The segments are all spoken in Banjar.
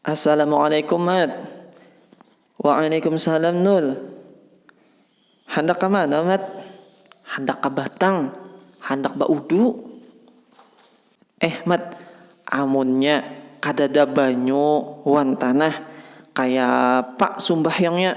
Assalamualaikum Mat. Waalaikumsalam Nul. Handak ka mana Mat? Handak ka Batang, handak ba udu. Eh Mat, amunnya kadada banyu wan tanah, kaya apa sumbahyangnya?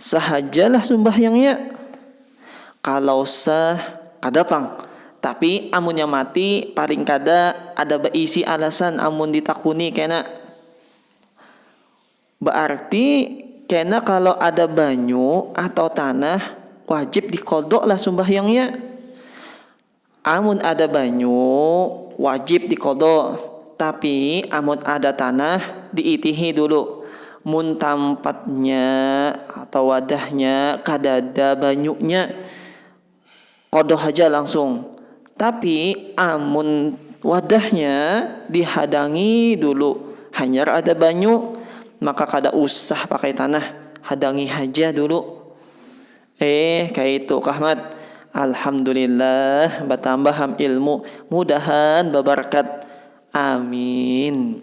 Sahajalah sumbahyangnya. Kalau sah, kada pang. Tapi amunnya mati, paling kada ada baisi alasan amun ditakuni kena. Baarti kena kalau ada banyu atau tanah, wajib dikodoklah sumbahyangnya. Amun ada banyu, wajib diqadha, tapi amun ada tanah diitihi dulu, mun tampatnya atau wadahnya kadada banyunya qadha haja langsung, tapi amun wadahnya dihadangi dulu hanyar ada banyu maka kada usah pakai tanah, hadangi haja dulu. Eeh kaitu kah Mat. Alhamdulillah batambah ham ilmu, mudahan babarkat. Amin.